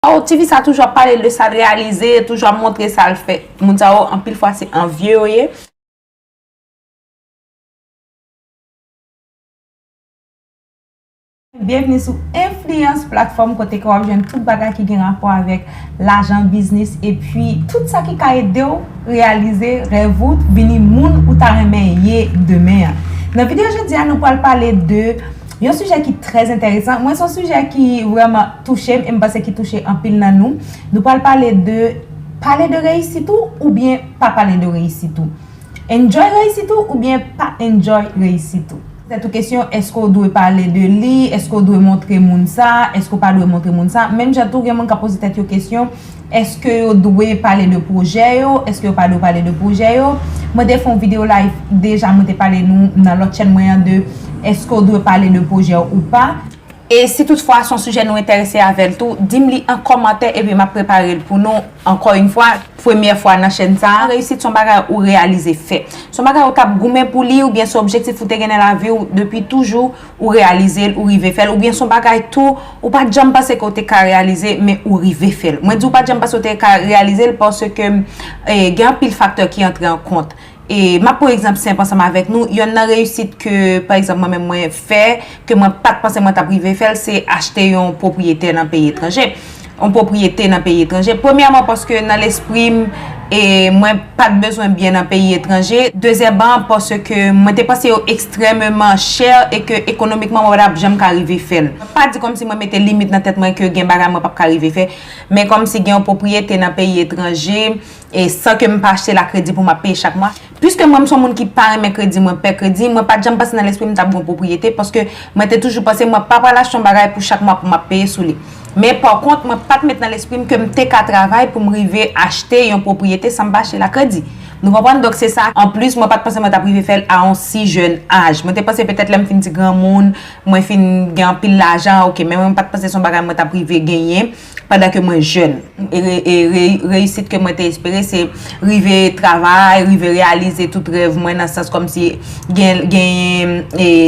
Waw tifi sa toujou ap pale de sal reyalize toujou ap montre sal fè moun sa yo anpil fwa se anvye yo ye. Byenvni sou Influence platfòm kote ke wap jwenn tout bagay ki gen rapò avèk lajan, biznis epi tout sa ki ka edew reyalize rèv ou vini moun ou ta renmen ye demen an. Nan video jodi a nou pral pale de. Yon sijè ki trè enteresan, mwen se yon sijè ki vreman touche m e m panse ki touche anpil nan nou. Nou pral pale de pale de reyisit ou oubyen pa pale de reyisit ou. Enjoy reyisit ou oubyen pa enjoy reyisit ou. Tèt ou kesyon, eske w dwe pale de li, eske w dwe montre moun sa, eske w pa dwe montre moun sa. Menm jan tou gen moun k ap poze tèt yo kesyon, Eske yo dwe pale de pwojè yo? Eske yo pa dwe pale de pwojè yo? Mwen te fè yon video live deja mwen te pale nou nan lòt chèn mwen an de eske w dwe pale de pwojè w ou pa. E si tout fwa son sijè nou entèrese avèl tou, dim li an kòmantè epi map preparel pou nou ankò yn fwa, premyè fwa nan chèn sa. Reyisit son bagay ou reyalize fè. Son bagay ou tap goumen pou li oubyen se objektif ou te gen nan lavi w depi toujou ou reyalize l, ou rive fè l, oubyen s on bagay tou ou pa t janm panse ke w te ka reyalize men ou rive fè l. Mwen di w pa t janm panse w te ka reyalize l paske gen anpil faktè ki antre an kont. E m ap pran egzanp senp ansanm avèk nou, yonn nan reyisit ke pa egzanp mwen menm mwen fè, ke mwen pa t panse mwen t ap rive fè l, se achte yon pwopriyete nan peyi etranje. yon pwopriyete nan peyi etranje. Premyèman, paske nan lespri m, mwen pa t bezwen byen nan peyi etranje. Dezyèman, paske mwen te panse yo ekstrèmeman chè e ke ekonomikman mwen pa t ap janm ka rive fè l. Mwen pa di kòmsi mwen mete limit nan tèt mwen ke gen bagay mwen p ap ka rive fè, men kòmsi gen yon pwopriyete nan peyi etranje, E san ke m pa achte la kredi pou m ap peye chak mwa. Piske mwen m son moun ki pa renmen kredi, mwen pè kredi, mwen pa t janm pase nan lespri m m t ap gen yon pwopriyete paske mwen te toujou panse mwen pa pral achte yon bagay pou chak mwa pou m ap peye sou li. Men pa kont mwen pa t met nan lespri m ke m te ka travay pou m rive achte yon pwopriyete san m pa achte l a kredi. Nou konprann? Donk se sa. Anplis mwen pa t panse mwen t ap rive fè l a yon si jèn aj. Mwen te panse petèt lè m fin ti granmoun, mwen fin gen anpil lajan, ok men mwen pa t panse se yon bagay mwen t ap rive genyen. pandan ke mwen jèn. E reyisit ke mwen te espere se rive travay, rive reyalize tout rèv mwen nan sans kòm si genyen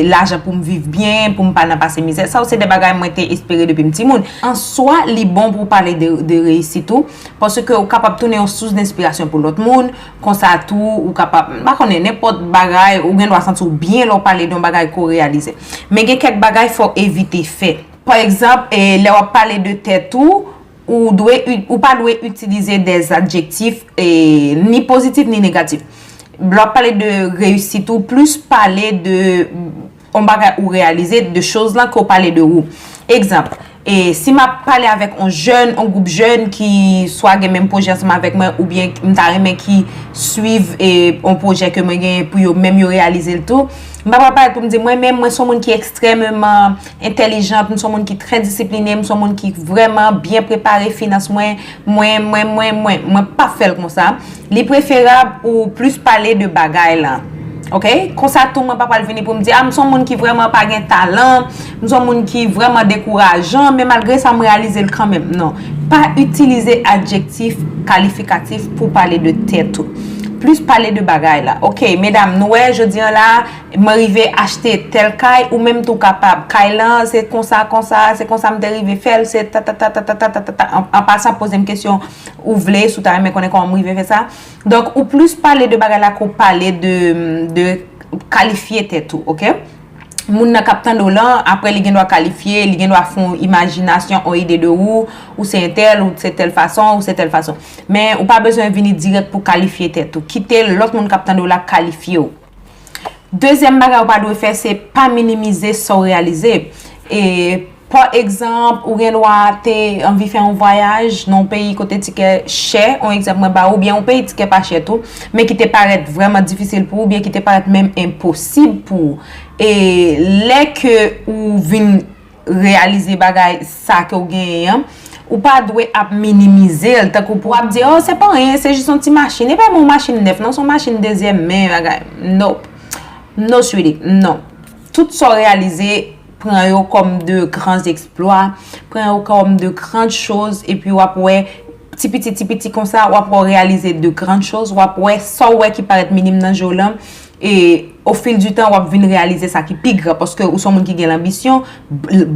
lajan pou m viv byen, pou m pa nan pase mizè. Sa yo se de bagay mwen te espere depi m timoun. An swa, li bon pou w pale de reyisit ou, paske ou kapab tounen yon sous denspirasyon pou lòt moun, konsa tou ou kapab, m pa konnen, nenpòt bagay, ou gen dwa santi w byen lè w pale de yon bagay ke w reyalize. Men gen kèk bagay fò w evite fè. Pa egzanp, lè w ap pale de tèt ou, ou pa dwe itilize de adjektif ni pozitif ni negatif. Lè w ap pale de reyisit ou, plis pale de yon bagay ou reyalize, de choz lan ke w pale de ou. Egzanp, si m ap pale avèk yon jèn, yon gwoup jèn ki swa gen menm pwojè ansanm avèk mwen oubyen m ta renmen ki swiv yon pwojè ke mwen genyen pou yo menm yo reyalize l tou, m pa pral pale pou m di mwen menm mwen s yon moun ki ekstrèmeman. entèlijant, m s on moun ki trè disipline, m s on moun ki vrèman byen prepare finans mwen, mwen, mwen, mwen, mwen. Mwen p ap fè l konsa. Li preferab ou plis pale de bagay la. Ok? Konsa tou mwen pa pral vini pou m di, a m s on moun ki vrèman pa gen talan, m s on moun ki vrèman dekourajan, men malgre sa m reyalize l kanmenm. Non. Pa itilize adjektif kalifikatif pou pale de tèt ou. Plis pale de bagay la. Ok, medam, nou wè jodi an la a, Mwen rive achte tèl kay, ou menm tou kapab. Kay lan, se konsa, konsa, se konsa m te rive fè l, se tatatatatatatatata. An pasan, poze m kesyon ou vle, si w ta renmen konnen kòman m rive fè sa. Donk, ou plis pale de bagay la ke w pale de kalifye tèt ou, oke. Moun nan k ap tande w lan, apre li gendwa kalifye, li gendwa fè yon imajinasyon, yon ide de ou, ou se entèl, ou se tèl fason, ou se tèl fason. Men, ou pa bezwen vini dirèk pou w kalifye tèt ou. Kite lòt moun k ap tande w la kalifye w. Dezyèm bagay ou pa dwe fè se pa minimize sa w reyalize. E pa egzanp, ou gen dwa te anvi fè yon vwayaj nan yon peyi kote tikè chè, yon egzanp mwen ba ou, oubyen yon peyi tikè pa chè tou, men ki te parèt vrèman difisil pou ou, oubyen ki te parèt menm enposib pou ou. E lè ke ou vin. reyalize bagay sa ke w genyen an, ou pa dwe ap minimize l, tankou pou ap di, oh se pa anyen, se jis yon ti machin, e pa menm yon machin nèf non, se yon machin dezyèm men, bagay, nope, no sweetie, non. Tout sa w reyalize, pran yo kòm de gran eksplwa, pran yo kòm de gran chòz, epi w ap wè, ti piti, ti piti konsa, w ap wè w reyalize de gran chòz, w ap wè sa w wè ki parèt minim nan je w lan, E o fil di tan wap vin reyalize sa ki pi gran paske ou son moun ki gen lanbisyon,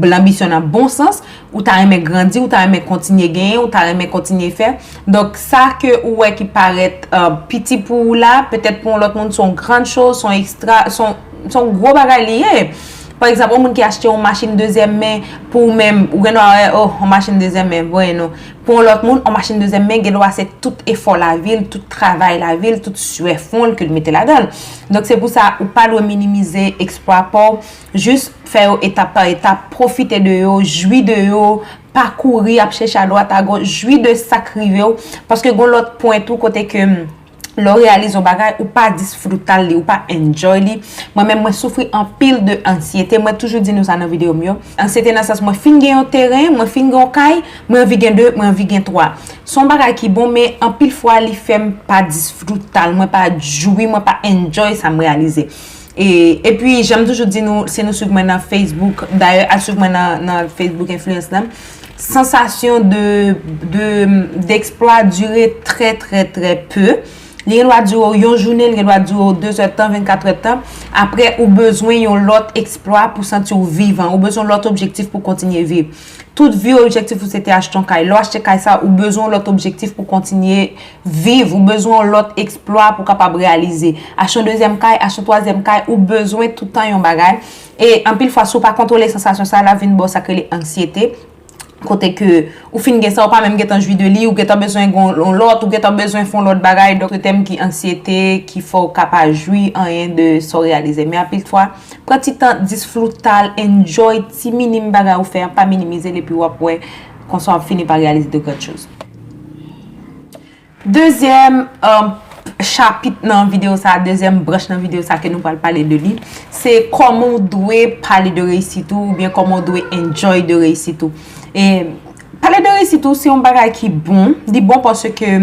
lanbisyon nan bon sans, ou ta renmen grandi, ou ta renmen kontinye genyen, ou ta renmen kontinye fè. Donk sa ke ou wè ki parèt piti pou ou la, petèt pou yon lòt moun son grand choz, son ekstra, son gwo bagay li ye. Pa egzanp, yon moun ki achte yon machin dezyèm men, pou ou menm, ou gen dwa wè, oh, yon machin dezyèm men, voye non. Pou yon lòt moun, yon machin dezyèm men gen dwa se tout efò lavi l, tout travay lavi l, tout suè fwon l ke l mete ladan l. Donk se pou sa ou pa dwe minimize eksplwa pa w, jis fè yo etap pa etap, pwofite de yo, jwi de yo, pa kouri ap chèche adwat agoch, jwi de sa k rive w, paske gen yon lòt pwen tou kote ke. lè ou reyalize yon bagay ou pa disfrutal li ou pa enjoy li mwen menm mwen soufri anpil de ansyete mwen toujou di nou sa nan video m yo ansyete nan sans mwen fin gen yon teren mwen fin gen yon kay mwen anvi gen 2 mwen anvi gen 3 se yon bagay ki bon men anpil fwa li fèm pa disfrutal mwen pa jwi mwen pa enjoy sa m reyalize. E pi janm toujou di nou si nou swiv mwen nan Facebook, dayè al swiv mwen nan Facebook Influence lan, sansasyon de eksplwa dure trè trè trè peu, li gen dwa dure w yon jounen, li gen dwa dure w 2 zè tan, 24 zè tan, apre ou bezwen yon lòt eksplwa pou santi w vivan, ou bezwen lòt objektif pou kontinye viv. Tout vi w objektif ou se te achte yon kay, lè w achte kay sa ou bezwen yon lòt objektif pou kontinye. Viv, ou bezwen yon lòt eksplwa pou kapab reyalize. Achte yon dezyèm kay, achte yon twazyèm kay, ou bezwen tout tan yon bagay. E anpil fwa si w pa kontwole sansasyon sa, l ap vin ba w sa k rele anksyete, kote ke ou fin gen sa ou pa menm gen tan jwi de li, ou gen tan bezwen gen yon lòt, ou gen tan bezwen fè yon lòt bagay, donk se tèm ki anksyete ki fè w ka pa jwi anyen de sa w reyalize. Men anpil fwa, pran ti tan, disfruta l, enjoy ti minim bagay ou fè an, pa minimize l epi w ap wè konsa w ap fini pa reyalize de gran choz. Dezyèm chapit nan videyo sa, dezyèm branch nan videyo sa ke nou pral pale de li, se kòman ou dwe pale de reyisit ou, oubyen kòman ou dwe enjoy de reyisit ou. E, pale de reyisit ou se yon bagay ki bon, li bon pòsè ke,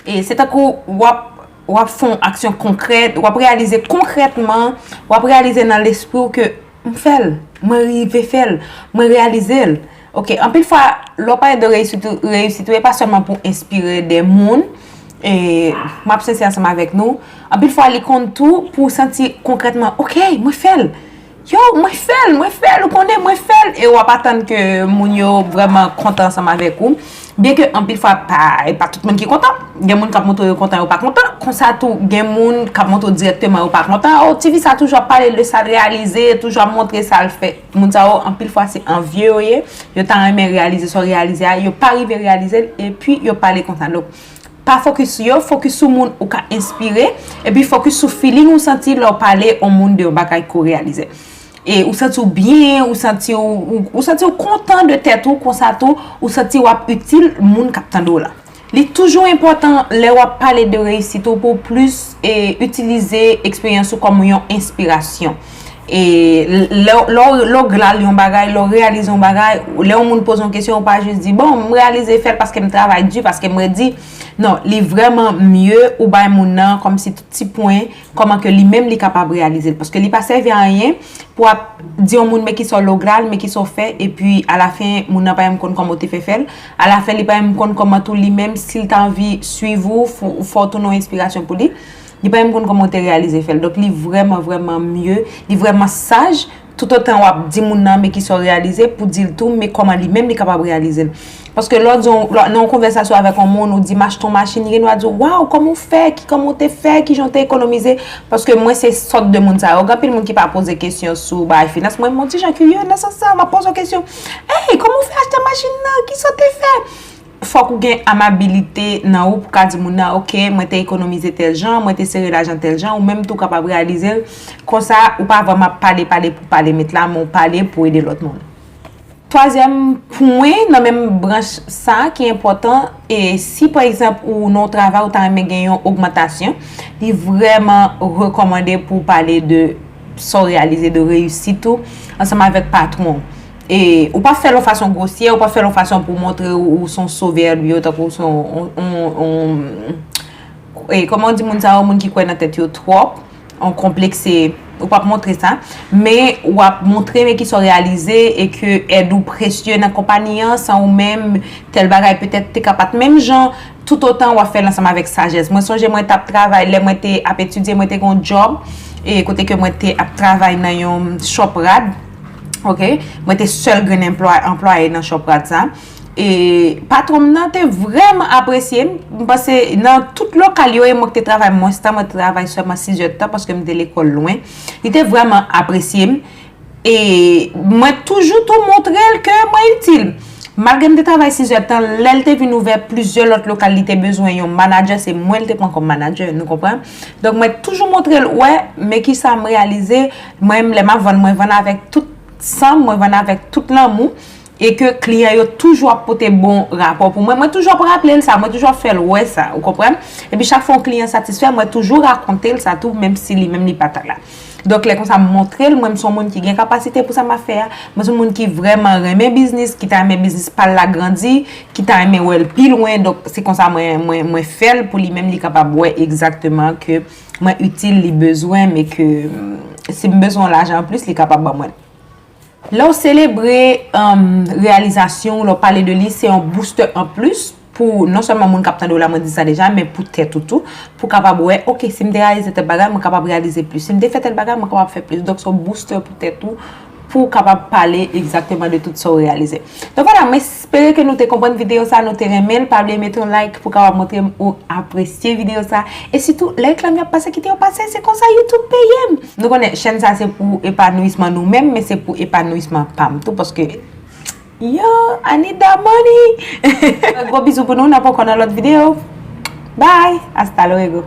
e, se tank ou wap, wap fon aksyon konkrèt, wap reyalize konkrètman, wap reyalize nan lespri ou ke, m fèl, mwen rive fèl, mwen reyalize l. Ok, anpil fwa, lè w pale de reyisit ou, reyisit ou e pa sèlman pou enspire de moun, e, m ap sensè ansanm avèk nou, anpil fwa li konn tou pou w santi konkrètman, ok, mwen fè l! Yo, mwen fè l, mwen fè l, ou konnen, mwen fè l! E w ap atann ke moun yo vrèman kontan ansanm avèk ou. Byen ke anpil fwa pa, e pa tout moun ki kontan. Gen moun k ap montre yo kontan yo pa kontan. Konsa tou, gen moun k ap montre w dirèkteman yo pa kontan. O, tifi sa toujou ap pale de sa l reyalize, toujou ap montre sa l fè. Moun sa yo anpil fwa se anvye yo ye, yo ta renmen reyalize sa w reyalize a, yo pa rive reyalize l epi yo pale konsa. Donk, pa fokis sou yo, fokis sou moun ou ka enspire epi fokis sou feeling ou santi lè w pale yon moun de yon bagay ke w reyalize. E ou santi w byen, ou santi w, ou santi w kontan de tèt ou konsa tou ou santi w ap itil moun k ap tande w lan. Li toujou enpòtan lè w ap pale de reyisit ou pou w plis itilize eksperyans ou kòm yon enspirasyon. E lè w glal yon bagay, lè w reyalize yon bagay, lè yon moun poze yon kesyon ou pa jis di bon m reyalize fè l paske m travay di, paske m redi. Non, li vrèman mye ou bay moun nan kòmsi ti pwen. Kòman ke li menm li kapab reyalize l. Paske li pa sèvi a anyen pou w ap di yon moun men kisa w logral, men kisa w fè, epi alafen moun nan pa menm konn kòman w te fè fè l. Alafen li pa menm konn kòman tou li menm si l ta anvi suiv ou, fè w tounen yon enspirasyon pou li, li pa menm konn kòman w te reyalize fè l. Donk li vrèman vrèman mye, li vrèman saj Toutotan wap di moun nan men kisa w reyalize, pou di l tou men kòman li menm li kapab reyalize l. Paske lè w di yon, nan yon konvèsasyon avèk yon moun, ou di m achte yon machin, li gen dwa di w, waw, kòman w fè, ki kòman w te fè, ki jan w te ekonomize, paske mwen se sòt de moun sa yo. Gen anpil moun ki pa poze kesyon sou bagay finans, mwen menm yon ti jan kirye, nan sans sa, m ap poze w kesyon, Ey, kòman w fè achte machin nan, kisa w te fè? Fòk ou gen amabilite nan ou pou ka di moun nan ok mwen te ekonomize tèl jan, mwen te sere lajan tèl jan, ou menm tou kapab reyalize l, konsa ou pa vrèman ap pale pale pou pale met la men w pale pou ede lòt moun. Twazyèm pwen nan menm branch sa ki enpòtan e si pa egzanp ou nan yon travay ou ta renmen gen yon ogmantasyon, li vrèman rekòmande pou w pale de sa w reyalize, de reyisit ou ansanm avèk patwon w. E ou pa fèl yon fason gwosyè, ou pa fèl yon fason pou montre ou son sovè li yo tankou ou son yon, e kòman ou di moun sa yo, moun ki kwè nan tèt yo twòp, yon konplekse, ou pap montre sa. Men ou ap montre men ki sa ou reyalize e ke èd ou presye nan konpani an, san ou menm tèl bagay petèt te ka pat menm jan, toutotan ou ap fèl ansanm avèk sajès. Mwen sonje mwen tap travay, lè mwen te ap etidye mwen te gen yon djòb, e kote ke mwen te ap travay nan yon chòp rad. Ok, mwen te sèl grenn anplwaye nan chòp rad sa. E patwon m nan te vrèman apresye m. M pase nan tout lokal yo e mwen te travay mwens tan. Mwen te travay sèlman 6 jèt tan paske m te lekòl lwen. Li te vrèman apresye m. E mwen toujou tou montre l ke mwen itil. Malgre m te travay 6 jèt tan, lè l te vin ouvè plizyè lòt lokal li te bezwen yon manadjè, se mwen l te pran kòm manadjè. Nou konprann? Donk mwen toujou montre l, wè, men ki sa m reyalize. Mwen menm lè map vann mwen vann avèk tout sanm, mwen vann avèk tout lanmou e ke kliyan yo toujou ap pote bon rapò pou mwen, mwen toujou ap raplel sa, mwen toujou ap fèl wè sa, ou konprann? Epi chak fwa yon kliyan satisfè mwen toujou rakontel sa tou menm si li menm li pata la. Donk lè konsa m montrel mwen m son moun ki gen kapasite pou sa map fè a, mwen son moun ki vrèman renmen biznis, ki ta renmen biznis pal la grandi, ki ta renmen wèl pi lwen, donk se konsa mwen mwen mwen fèl pou li menm li kapab wè egzakteman ke mwen itil, li bezwen, men ke si m bezwen yon lajan an plis, li kapab ban mwen l. Lè w selebre reyalizasyon ou, lè w pale de li, se yon boustè an plis pou non sèlman moun k ap tande w la, mwen di sa deja, men pou tèt ou tou, pou kapab wè, ok, si m te reyalize tèl bagay, mwen kapab reyalize plis. Si m te fè tèl bagay, mwen kapab fè plis. Donk se yon boustè pou tèt ou, pou ou kapab pale egzakteman de tout sa ou reyalize. Donk wala, mwen espere ke nou te konprann videyo sa, nou te renmen l, pa bliye mete yon like pou kapab montre m ou apresye videyo sa, e sitou lè reklam yo ap pase kite yo pase, se konsa YouTube peye m! Nou konnen chèn sa se pou epanouisman nou menm, men se pou epanouisman pa m tou paske yo I need that money! Gwo bizou pou nou, n ap ankò nan lòt videyo, bye! Hasta luego!